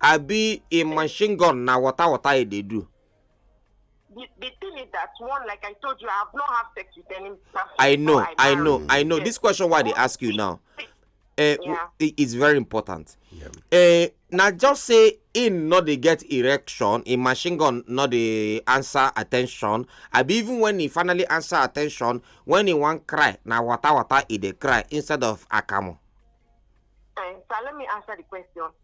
abi im machine gun na water water e dey do. the the thing is that one like i told you i have not had sex with any person i know before i know married. i know Yes. this question wey i dey ask you now eh, Yeah. it is very important eh, na just say im no dey get erection im machine gun no dey answer attention abi even when e finally answer attention when e wan cry na water water e dey cry instead of akamu. Eh, so let me answer the question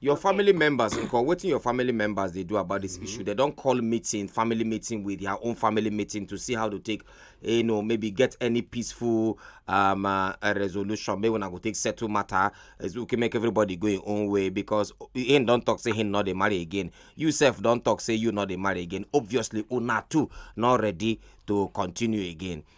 your okay. family members nko wetin your family members dey do about this mm -hmm. issue they don call meeting family meeting with their own family meeting to see how to take you know maybe get any peaceful um, uh, resolution maybe una go take settle matter as we can make everybody go im own way because him don talk say him no dey marry again you sef don talk say you no dey marry again obviously una too no ready to continue again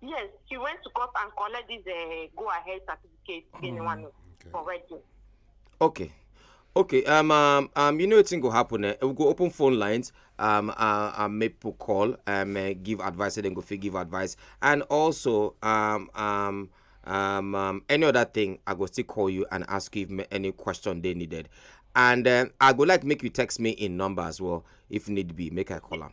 Yes, she went to court and collect this uh, go ahead certificate mm, in one okay. for wedding. Okay. Okay, um, um, um, you know a thing will happen. Eh? We'll go open phone lines, um, uh, um, make people call, um, uh, give advice, and then go for give advice. And also, um, um, um, um, any other thing, I go still call you and ask you if any question they needed. And uh, I go like make you text me in number as well, if need be, make a call them.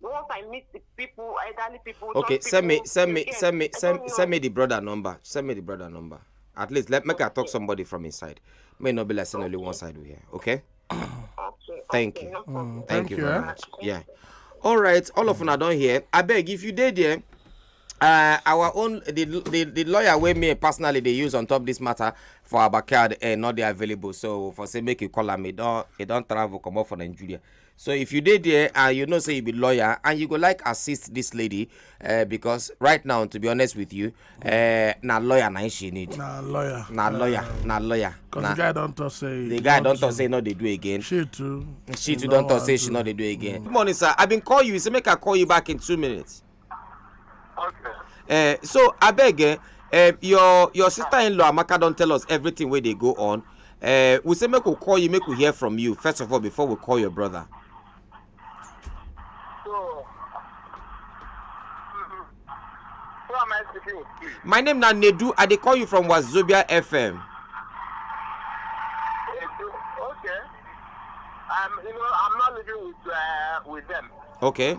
once I meet the people, elderly people. Okay, people send me, send me, send me, send, send me the brother number. Send me the brother number. At least let me okay. talk somebody from inside. May not be like okay. only one side we here. Okay. okay. Thank okay, you. No mm, thank, thank, you very eh? much. Yeah. All right. All of una don't hear. I beg if you did there. Uh, our own the, the the lawyer wey me personally dey use on top this matter for our backyard eh, not dey available so for say make you call am e don e don travel comot for nigeria so if you dey there and you know say you be lawyer and you go like assist this lady uh, because right now to be honest with you uh, na lawyer na she need na lawyer na lawyer uh, na lawyer because the guy don talk say the guy don talk say no dey do again she too she too don talk say she no dey do again mm. good morning sir i bin call you you say make i call you back in two minutes Okay. Uh, so I beg, uh, uh, your your sister-in-law Amaka don't tell us everything where they go on. Uh, we say make we call you, make we hear from you first of all before we call your brother. So, mm, who am I speaking with? My name na Nedu. I dey call you from Wazobia FM. Okay. I'm, you know, I'm not living with uh, with them. Okay.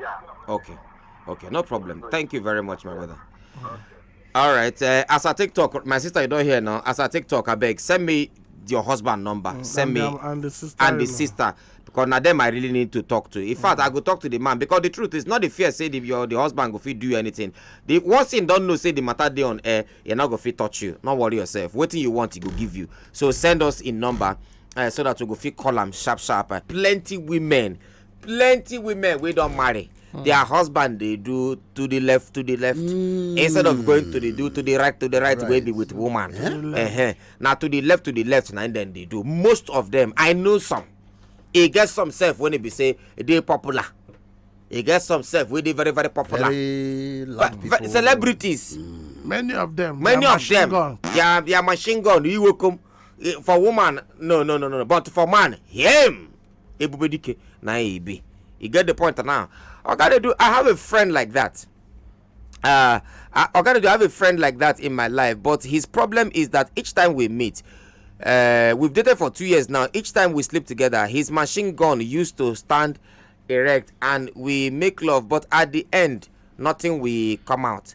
Yeah. Okay. Okay, no problem. Thank you very much, my brother. Uh-huh. All right. Uh, as I take talk, my sister, you don't hear now. As I take talk, I beg, send me your husband number. Mm, send and me the, and the sister. And the sister. Because now them I really need to talk to. In mm. fact, I go talk to the man because the truth is not the fear say the, your the husband go fit do anything. The one thing don't know say the matter day on air, you're not go fit touch you. Not worry yourself. What you want, he go give you. So send us in number uh, so that we go fit call them sharp sharp. Uh, plenty women plenty women wey don marry hmm. their husband dey do to the left to the left hmm. instead of going to the do to the right to the right wey be with woman eh? na to the left to the left na dem dey do most of them i know some e get some sef when e be say e dey popular e get some sef wey dey very very popular very loud people celebrities hmm. many of them many of them their their machine gun iwokom eh, for woman no no no no but for man him ebube dike na ya ebe you get the point now ogadedu i have a friend like that uh ogadedu i have a friend like that in my life but his problem is that each time we meet uh, we've dated for two years now each time we sleep together his machine gun used to stand erect and we make love but at the end nothing will come out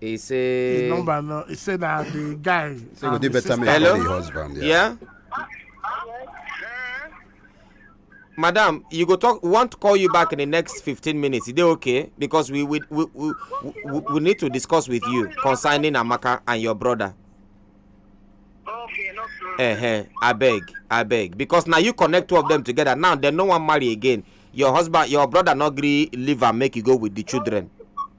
He say. His number no. He say that the guy. Say um, go do better man for the husband. Yeah. yeah? madam you go talk we want to call you back in the next fifteen minutes is that okay because we we we we, we, we need to discuss with you concerning amaka and your brother. okay no problem. Uh -huh. abeg abeg because na you connect two of them together now dem no wan marry again your husband your brother no gree leave am make you go with the children.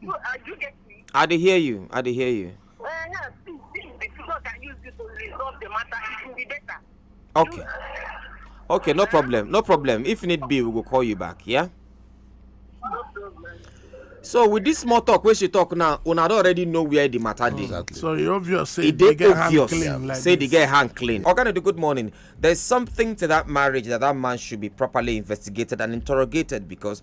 You, uh, you get me? I dey hear you. I dey hear you. Uh, yeah, see, see, the people can use this to resolve the matter. It will be better. Okay. You, uh, okay, no problem. No problem. If need be, we will call you back. Yeah. No problem. so with this small talk wey she talk now una don already know where the matter dey. Exactly. so e obvious say e dey obvious yeah. like say the girl hand clean. oga okay, good morning there is something to that marriage that that man should be properly investigated and interrogated because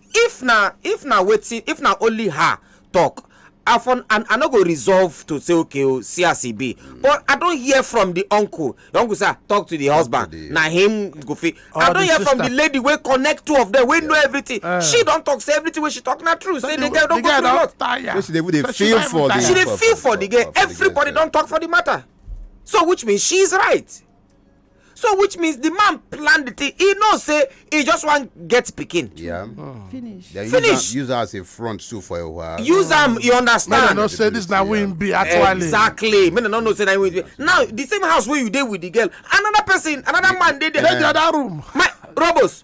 If na if na wetin if na only her talk I for I, I no go resolve to say okay o oh, see as e be mm. but I don hear from the uncle the uncle say ah, talk to the talk husband to the... na him go fit I don hear sister. from the lady wey connect two of them wey yeah. know everything uh. she don talk say everything wey she talk na true so say the, the girl don go through a lot tire. she dey even dey feel for the she dey feel for the girl everybody don talk for the matter so which means she is right. so which means the man plan the thing he know say he just wan get pikin. Yeah. Oh. finish. Then finish use am as a front too for a while. use am oh. you understand. make dem no say this na wey im be actually. exactly make dem no know say na wey im be now the same house wey you dey with the girl another person another man dey there. dey the other room. my robos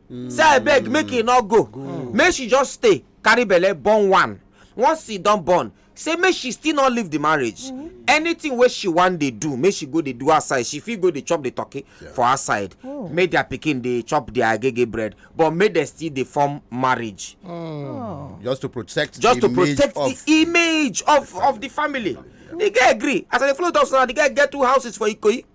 mm. say i beg make he no go mm. make she just stay carry belle born one once he don born say make she still no leave the marriage mm -hmm. anything wey she wan dey do make she go dey do outside she fit go dey chop the turkey yeah. for outside oh. make their pikin dey chop their agege bread but make dem still dey form marriage. Mm. Oh. just to protect just the to protect the image of of the family. Yeah. the guy agree as i dey follow talk so now the guy get two houses for ikoyi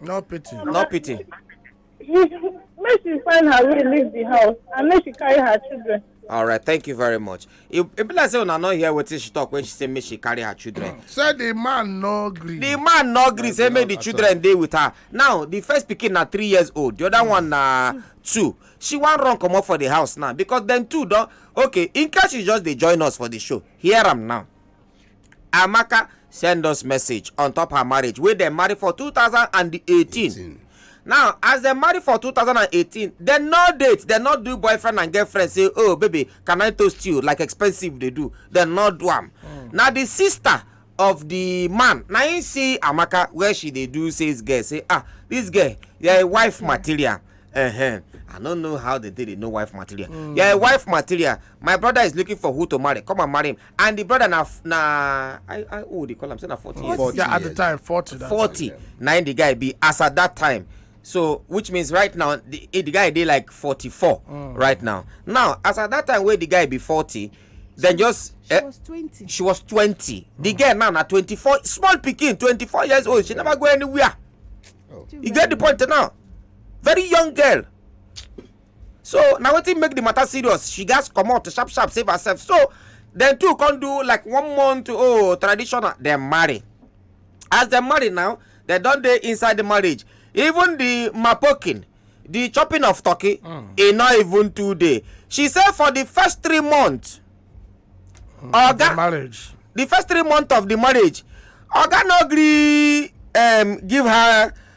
No pity. No pity. Make she find her way leave the house and make she carry her children. All right, thank you very much. It, it be like say una no hear wetin she talk when she say make she carry her children. Say the man no gree. The man no gree say make the children dey with her. Now the first pikin na three years old, the other one na two. She wan run comot for the house now because dem two don okay. In case you just dey join us for the show, hear am now. amaka send us message on top her marriage wey dem marry for 2018 now as dem marry for 2018 dem no date dem no do boyfriend and girlfriend say oh baby can i toast you like expensive dey do dem no do am hmm. na di sister of di man na im see amaka where she dey do sales girl say ah dis girl your wife material uh-huh. i no know how they dey dey know wife material mm. yeah wife material my brother is looking for who to marry come and marry him and the brother na na i i oh they call am say na forty years forty yeah at the time forty forty na im the guy be as at that time so which means right now the eh, the guy dey like forty-four mm. right now now as at that time wey the guy be forty then just she eh, was twenty she was twenty mm. the girl now na twenty-four small pikin twenty-four years old she never go anywhere oh. you get the point now very young girl so na wetin make the matter serious she gats comot sharp sharp save herself so dem two come do like one month oh traditional dem marry as dem marry now dem don dey inside the marriage even the mapokin the chopping of turkey mm. e no even too dey she say for the first three months mm, oga marriage the first three months of the marriage oga no gree um, give her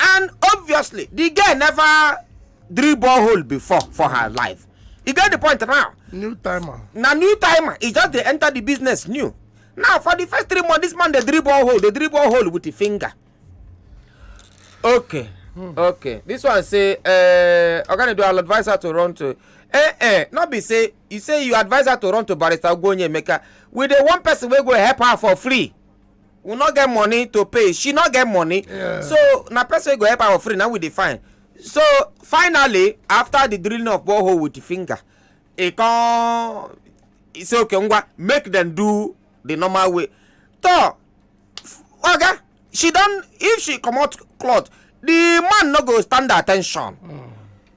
and obviously the girl never drill borehole before for her life you get the point now new timer na new timer e just dey enter the business new now for the first three months this man dey drill borehole dey drill borehole with the finger okay hmm. okay this one say uh, oga nedu i'll advise her to run to eh eh no be say you say you advise her to run to barrister ogbonye emeka with the one person wey go help her for free we no get money to pay she no get money yeah. so na person wey go help our friend na we dey find so finally after the drilling of borehole with the finger e come e say okay ngwa make dem do the normal way to oga she don if she comot cloth the man no go stand attention. Mm.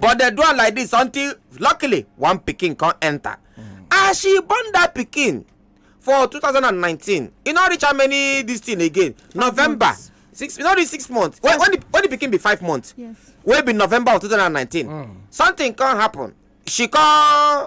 but dem do am like this until luckily one pikin come enter as she born that pikin for 2019 e no reach how many this thing again november six e no reach six months when when the when the pikin be five months yes. wey be november of 2019 mm. something come happen she come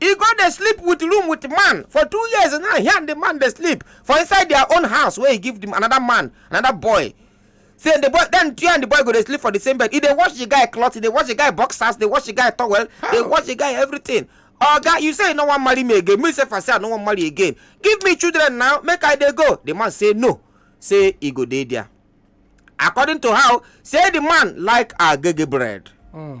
e go dey sleep with room with man for two years now he and the man dey sleep for inside their own house wey he give the another man another boy say the boy then you and the boy go dey sleep for the same bed e dey wash the guy cloth e dey wash the guy boxers dey wash the guy towel dey wash the guy everything oga you say you no wan marry me again me sef i say i no wan marry again give me children now make i dey go the man say no say e go dey there according to how say the man like agege bread. Mm.